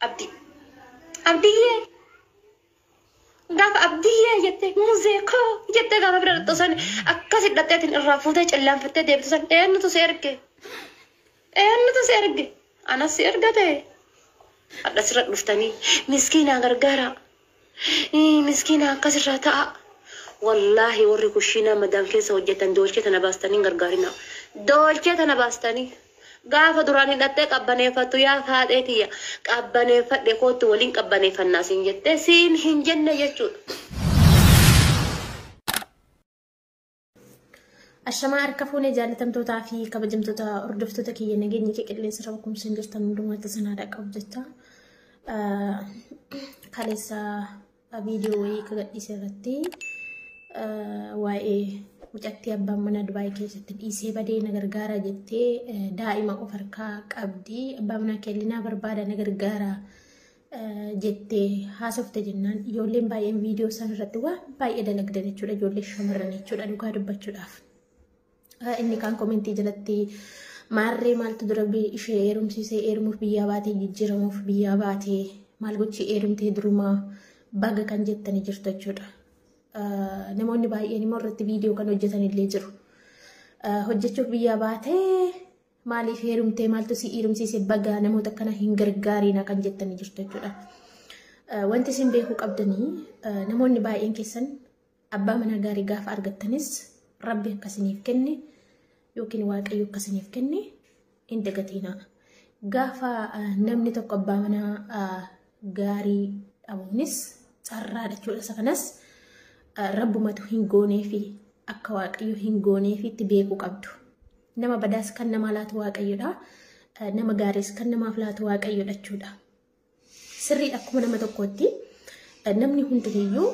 Abdi. Abdiyyee. Gaafa abdiyyee jettee muzee koo jettee gaafa bira dhaqxu san akkasi dhaqxeetiin irraa fuutee cillaanfattee deebitu san eenyutu si erge? Eenyutu si erge? Anas si erga ta'e. Hadha sirra dhuftanii miskiinaa gargaaraa. Hii miskiina akkas irraa ta'aa. Wallaahi warri kushiinaa madaam keessa hojjetan doolchee tana baastanii hin gargaarinaa. Doolchee tana baastanii gaafa duraan hidhattee qabbaneeffattu yaa faaxee tiyya qabbaneeffadhe koottu waliin qabbaneeffannaa siin jettee siin hin jenne jechuudha. Ashamaa harka fuunee jaalatamtootaa fi kabajamtoota hordoftoota kiyya nageenya kee qilleensa irra bukumsa hin jirtan hundumaatti sanaa dhaqqabu jecha kaleessa viidiyoo wayii ka gadhiise irratti waa'ee mucattii abbaan mana Dubaay keessatti dhiisee badee na gargaara jettee daa'ima of harkaa qabdi abbaa manaa kellinaa barbaada na gargaara jettee haasofte jennaan ijoolleen baay'een viidiyoo san irratti waan baay'ee dalagdan jechuudha ijoollee shamarran jechuudha dhugaa dubbachuudhaaf. Inni kaan komentii jalatti maarree maaltu dura ishee eerumsiisee eermuuf biyyaa baatee jijjiiramuuf biyyaa baatee maal gochii eerumtee durumaa baga kan jettanii jirtu jechuudha. Namoonni baay'een immoo irratti viidiyoo kan hojjetan illee jiru. Hojjechuuf biyyaa baatee Maaliif heerumtee maaltu si heerumsiise bagaa namoota akkana hin gargaariina kan jettanii jirtu jechuudha. Eh, Wanti isin beekuu qabdanii eh, namoonni baay'een keessan abbaa manaa gaarii gaafa argattanis rabbi akkasiniif kenne yookiin waaqayyo akkasiniif kenne hin dagatiinaa. Gaafa eh, namni tokko abbaa manaa eh, gaarii dhabuunis carraa jechuudha. Isa kanas eh, rabbumatu hin gooneefi akka waaqayyo hin gooneefiitti beekuu qabdu. Nama badaas kan namaa laatu waaqayyodha. Nama gaariis kan namaaf laatu waaqayyodha jechuudha. Sirrii akkuma nama tokkootti namni hundiniyyuu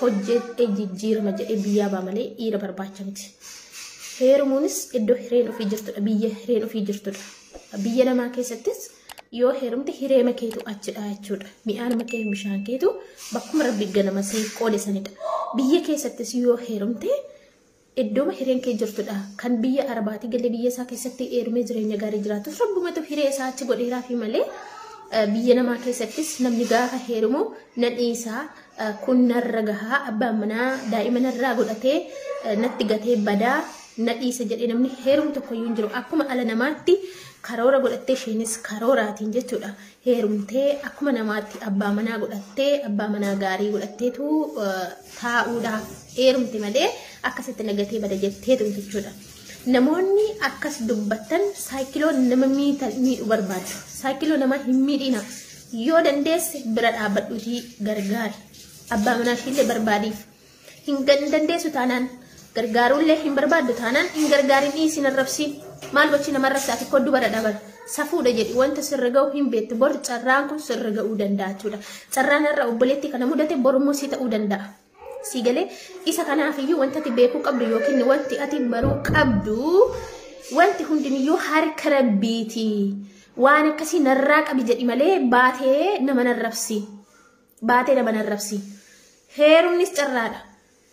hojjetee jijjiirama jedhee biyyaa baa malee dhiira barbaacha miti. Heerumuunis iddoo hireen ofii jirtudha. Biyya hireen ofii jirtudha. Biyya namaa keessattis yoo heerumte hireema keetu achidha jechuudha. Mi'aanuma kee bishaan keetu bakkuma rabbi ganama siif qoode sanidha. Biyya keessattis yoo heerumte Iddooma hireen kee jirtu dha. Kan biyya Arabaatii galee biyya isaa keessatti heerumee jireenya gaarii jiraatus Rabbumatu hiree isaa achi godheeraafii malee biyya namaa keessattis namni gaafa heerumu na dhiisaa kun narra gahaa abbaan manaa daa'ima narraa godhatee natti gatee badaa na dhiisa jedhee namni heerumu tokkoyyuu hin jiru. Akkuma ala namaatti karoora godhattee isheenis karooraatiin jechuudha. heerumtee akkuma namaatti abbaa manaa godhattee abbaa manaa gaarii godhatteetu taa'uudhaaf heerumte malee akkasitti nagatee bada jettee tumte jechuudha. Namoonni akkas dubbattan saayikiloo nama miidhu barbaadu. Saayikiloo nama hin miidhina. Yoo dandeesse bira dhaabbadhuutii gargaari. Abbaa manaa ishiillee barbaadiif. Hin dandeessu taanaan gargaaruullee hin barbaaddu taanaan hin gargaarin dhiisi hin arrabsiin. Maal gochi nama arrabsa ati koddu bara dhabara. Safuudha jedhi wanta sirra ga'u hin beektu bor carraan kun sirra ga'uu danda'a jechuudha. Carraan irra obboleettii kana mudate borummoo si ta'uu danda'a. Si galee isa kanaaf iyyuu wanta ati beekuu qabdu yookiin wanti ati baruu qabdu wanti hundiniyyuu harka rabbiiti. Waan akkasii narraa qabi jedhi malee baatee nama narrabsi. baatee nama hin arrabsiin. Heerumnis carraadha.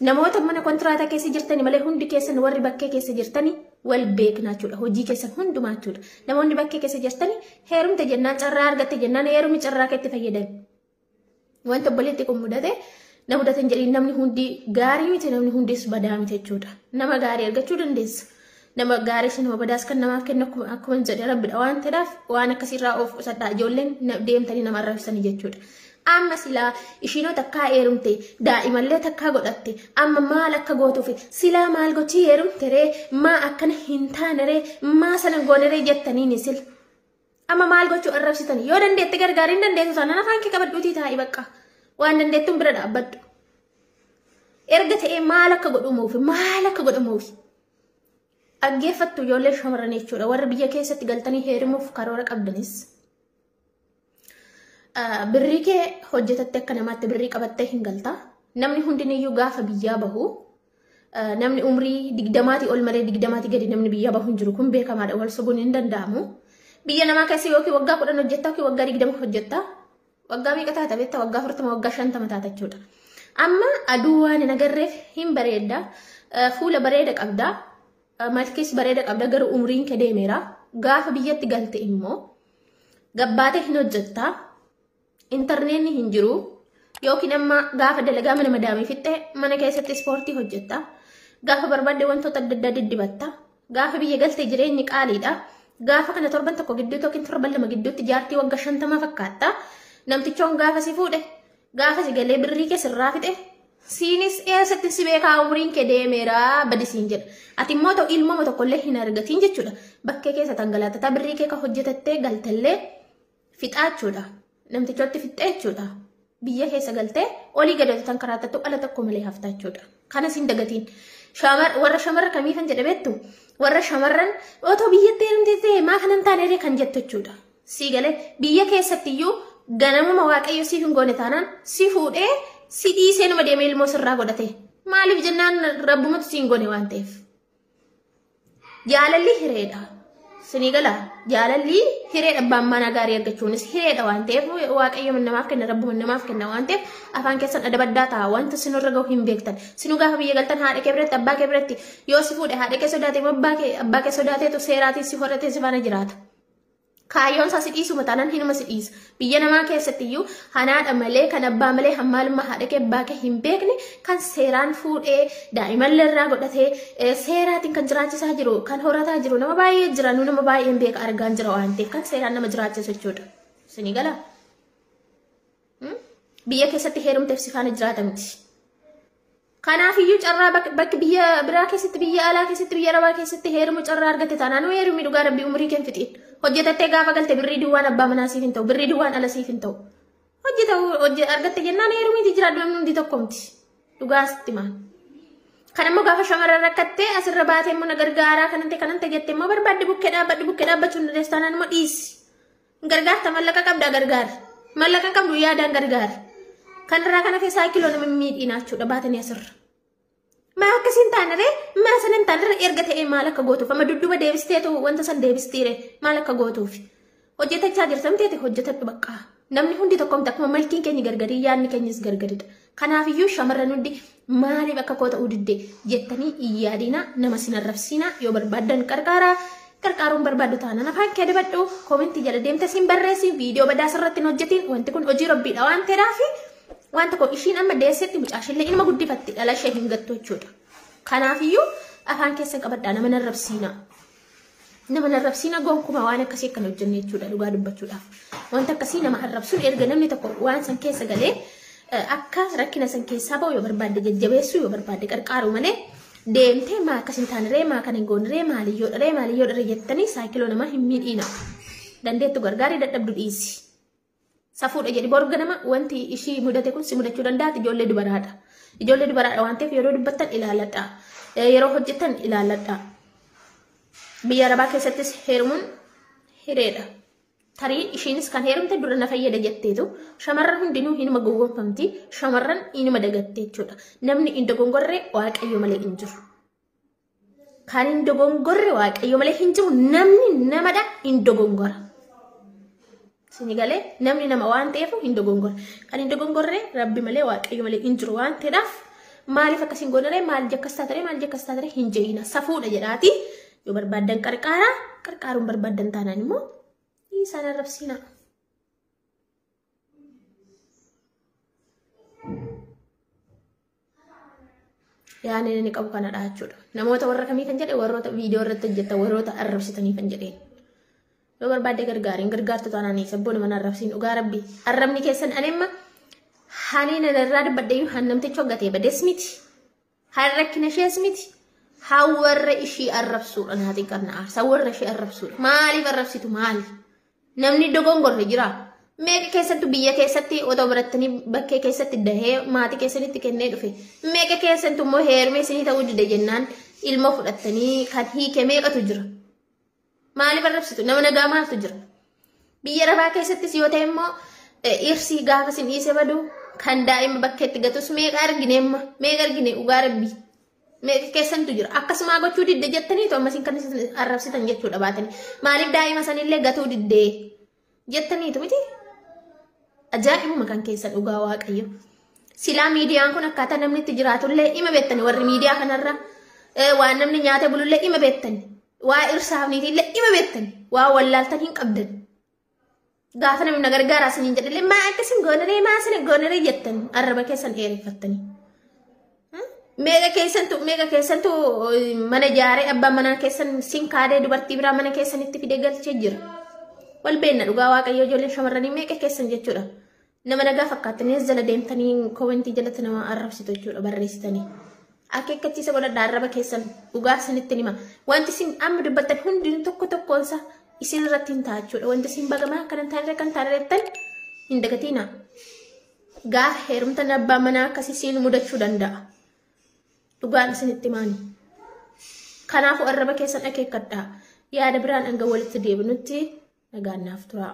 Namoota mana kontiraataa keessa jirtani malee hundi keessan warri bakkee keessa jirtani wal beekna jechuudha. Hojii keessan hundumaa jechuudha. Namoonni bakkee keessa jirtani heerumte jennaan carraa argatte jennaan heerumi carraa keetti fayyadami. Wanta obboleetti kun mudate na mudatan jedhiin namni hundi gaarii miti namni hundis badaa miti jechuudha. Nama gaarii argachuu dandeessa. nama gaarii fi nama badaas kan namaaf kennu akkuma akkuma hin jedhe rabbidha waan ta'eef waan akkasirraa of qusadhaa ijoolleen na- deemtanii nama arrabsanii jechuudha. Amma silaa ishiinoo takkaa heerumte daa'imallee takkaa godhatte amma maal akka gootuufi silaa maal gochii heerumte ree maa akkana hin taane ree maa sana goone ree jettaniini sila. Amma maal gochuu arrabsitan yoo dandeette gargaariin dandeessu taanaan afaan kee qabadhuutii taa'i bakka waan dandeettuun bira dhaabbadhu. Erga ta'ee maal akka godhamuufi maal akka godhamuufi dhaggeeffattu ijoollee shamarran jechuudha warri biyya keessatti galtanii heerimuuf karoora qabdanis. Birrii kee hojjetattee akka namaatti birrii qabattee hin galta. Namni hundiniyyuu gaafa biyyaa bahu Namni umrii digdamaatii ol malee digdamaatii gadi namni biyya bahu hin jiru kun beekamaadha wal sobuun hin danda'amu. Biyya namaa keessa yookiin waggaa kudhan hojjetta yookiin waggaa digdama hojjetta. Waggaa meeqa taata beekta waggaa afurtama waggaa shantama taata jechuudha. Amma aduu waan hin agarreef hin bareedda. Fuula bareeda qabda. Malkis bareeda qabda garuu umriin kee deemeera. Gaafa biyyatti galte immoo gabbaatee hin hojjetta. Intarneetni hin jiru yookiin amma gaafa dalagaa mana madaamii fixxe mana keessatti ispoortii hojjetta. Gaafa barbaadde wantoota adda addaa diddibatta. Gaafa biyya galte jireenyi qaaliidha. Gaafa kana torban tokko gidduutti yookiin torban lama gidduutti jaartii wagga shantamaa fakkaatta. Namtichoon gaafa si fuudhe gaafa si galee birrii kee sirraa fixe siinis eessatti si beekaa umriin kee deemeera badisiin jedha. Ati immoo ta'u ilmama tokkollee hin argatiin jechuudha. Bakkee keessa tangalaattataa birrii kee kan hojjetattee galtallee fixaa jechuudha. Namtichootti fixxee jechuudha. Biyya keessa galtee olii gadi hojjetan karaa tattu ala tokko malee haftaa jechuudha. Kanas hin dagatiin. Warra shamarra kamii kan jedhe beektu warra shamarran otoo biyyatti heerumtee ta'e maa kanan taaneree kan jettu jechuudha. Sii galee biyya keessatti iyyuu ganamuma waaqayyo siif hin goone taanaan si fuudhee si dhiisee nama deemee ilmoo sirraa godhate. Maaliif jennaan rabbumatu siin goone waan ta'eef. Jaalalli hireedha. Sinii gala jaalalli hireedha abbaan manaa gaarii argachuunis hireedha waan ta'eef waaqayyo namaaf kenna rabbu namaaf kenna waan ta'eef afaan keessan adabaddaa ta'a wanta sinurra gahu hin beektan sinuu gaafa biyya galtan haadha kee biratti abbaa kee biratti yoo si fuudhe haadha kee sodaatee abbaa kee abbaa kee sodaateetu seeraatiin si horratee si faana jiraata. Kaayyoon isaa si dhiisuma taanaan hinuma si dhiisa. Biyya namaa keessatti iyyuu hanaadha malee kan abbaa malee hammaalummaa haadha kee abbaa kee hin beekne kan seeraan fuudhee daa'imallee irraa godhatee eh, seeraatiin kan jiraachisaa jiru kan horataa jiru nama baay'ee jira nu nama baay'een beeka argaan jira waan ta'eef kan seeraan nama jiraachisu jechuudha. Isinii galaa? Biyya keessatti heerumteef si faana jiraata miti. Kanaafiyyuu carraa bakki biyya biraa keessatti biyya alaa keessatti biyya arabaa keessatti heerumu carraa argatte taanaan nu heerumii dhugaa rabbii umurii keen fixiin. Hojjetattee gaafa galte birrii duwwaan abbaa manaa siif hin ta'u birrii duwwaan ala siif hin ta'u. Hojjeta hojje argatte jennaan heerumii jijjiiraadhu namni hundi tokko miti. Dhugaa sitti maan. Kan immoo gaafa shamarran rakkattee asirra baatee immoo na gargaaraa kanante kanante jette immoo barbaadde bukkee dhaabbadhu bukkee dhaabbachuun dandeessu taanaan immoo dhiisi. Gargaarta mallaqa qabdaa gargaari. Mallaqa qabdu yaadaan gargaari. Kanarraa kana keessaa kiloo nama miidhiinaa jechuudha baatanii asirra. Maa akkas hin taanere maa san hin taanere erga ta'ee maal akka gootuuf amma dudduba deebisteetu wanta san deebistiire maal akka gootuuf. Hojjetachaa jirtamteeti hojjetadhu baqqaa. Namni hundi tokkomti akkuma malkiin keenya gargarii yaadni keenyas gargaridha. Kanaafiyyuu shamarran hundi maaliif akka koo ta'uu didde jettanii hin yaadina nama sin arrabsiina yoo barbaaddan qarqaara qarqaaruun barbaaddu taanaan afaan kee dibadhu koomentii jala deemte siin barreessi viidiyoo badaa sirratti hin hojjetiin wanti kun hojii rabbiidha waan ta'eedhaafi waan tokko ishiin amma deessetti mucaashillee inuma guddifatti dhala ishee hin gattu jechuudha. Kanaafiyyuu afaan keessan qabadhaa nama hin arrabsiina. Nama hin arrabsiina gonkumaa waan akkasii akkan hojjenne jechuudha dhugaa dubbachuudhaaf. Wanta akkasii nama arrabsuun erga namni tokko waan san keessa galee eh, akka rakkina san keessaa ba'u yoo barbaadde jajjabeessuu yoo barbaadde qarqaaru malee deemtee maa akkas hin taaniree maa kan hin gooniree maaliyyoo dharee maaliyyoo dharee jettanii saayikiloo namaa hin miidhiina. Dandeettu gargaaree dadhabdu dhiisi. Safuudha jedhi bor ganama wanti ishii mudate kun si mudachuu danda'a ijoollee dubaraadha. Ijoollee dubaraadha waan ta'eef yeroo dubbattan ilaaladha. Yeroo hojjettan ilaaladha. Biyya arabaa keessattis heerumuun hireedha. Tarii ishiinis kan heerumte dura na fayyada jetteetu shamarran hundinuu hinuma gowwoomfamti shamarran inuma dagatte jechuudha. Namni hin dogongorre waaqayyo malee hin jiru. Kan hin dogongorre waaqayyo malee hin jiru namni namadha hin dogongora. Sini galee namni nama waan ta'eef hin dogongora. Kan hin dogongorre rabbi malee waaqayyo malee hin jiru waan ta'eedhaaf maaliif akkas hin goonere maal jakkas taatare maal jakkas taatare hin je'ina safuudha jedhaati yoo barbaaddan qarqaara qarqaaruun barbaaddan taanaan immoo isaan arrabsiina. yaadni inni qabu kanadha jechuudha. Namoota warra kamii kan jedhe warroota viidiyoo irratti hojjetan warroota arrabsitanii kan jedheen. Yoo barbaadde gargaariin gargaartu taanaan sabboon mana arrabsiin dhugaa rabbi arrabni keessan ani amma hanii nan irraa dubbadhee yoo haan namtichi hoggatee badees miti. Kan rakkina ishees miti. Haa warra ishii arrabsuudha naa xiqqanna aarsa warra ishii arrabsuudha. Maaliif arrabsitu maali? Namni dogongorre jira. Meeqa keessattu biyya keessatti otoo barattanii bakkee keessatti dahee maatii keessanitti kennee dhufe. Meeqa keessattu immoo heerumee isinii ta'uu dide jennaan ilmoo fudhattanii kan hiike meeqatu jira. Maaliif arrabsitu? Nama nagaa maaltu jira? Biyya Arabaa keessattis yoo ta'e immoo dhiirsii gaafa sin dhiise badu kan daa'ima bakkeetti gatus meeqa argine amma meeqa argine dhugaa rabbi meeqa keessantu jira akkasumaa gochuu didde jettaniitu ammas kan arrabsitan jechuudha baatanii maaliif daa'ima sanillee gatuu diddee jettaniitu miti ajaa'ibuma kan keessa dhugaa waaqayyo silaa miidiyaan kun akkaataa namni itti jiraatullee ima beektani warri miidiyaa kanarra eh, waan namni nyaatee bulullee ima beektani waa irsaafniitiillee ima beektani waa wallaaltan hin qabdan gaafa namni na gargaaraa siniin jedhillee maa akkasin goonaree maa sina goonaree jettan arraba keessan dheereffattanii Meeqa keessantu meeqa keessantu mana ijaaree abbaan manaa keessan sin kaadee dubartii biraa mana keessanitti fidee galchee jira. Wal beenna dhugaa waaqayyoo ijoolleen shamarranii meeqa keessan jechuudha. Nama nagaa fakkaattanii as jala deemtanii koomentii jalatti nama arrabsitu jechuudha barreessitanii. Akeekkachiisa godhadha arraba keessan dhugaa isinitti hima. Wanti isin amma dubbattan hundinuu tokko tokkoonsa isin irratti hin ta'a jechuudha. Wanti isin bagamaa akkanan taanirra kan taanirra jettan hin dagatiina. Gaafa heerumtan abbaa manaa akkasii siin mudachuu danda'a. Dhugaan isinitti himaani. Kanaafuu arraba keessan akeekkadhaa. Yaada biraan hanga walitti deebinutti nagaan naaf turaa.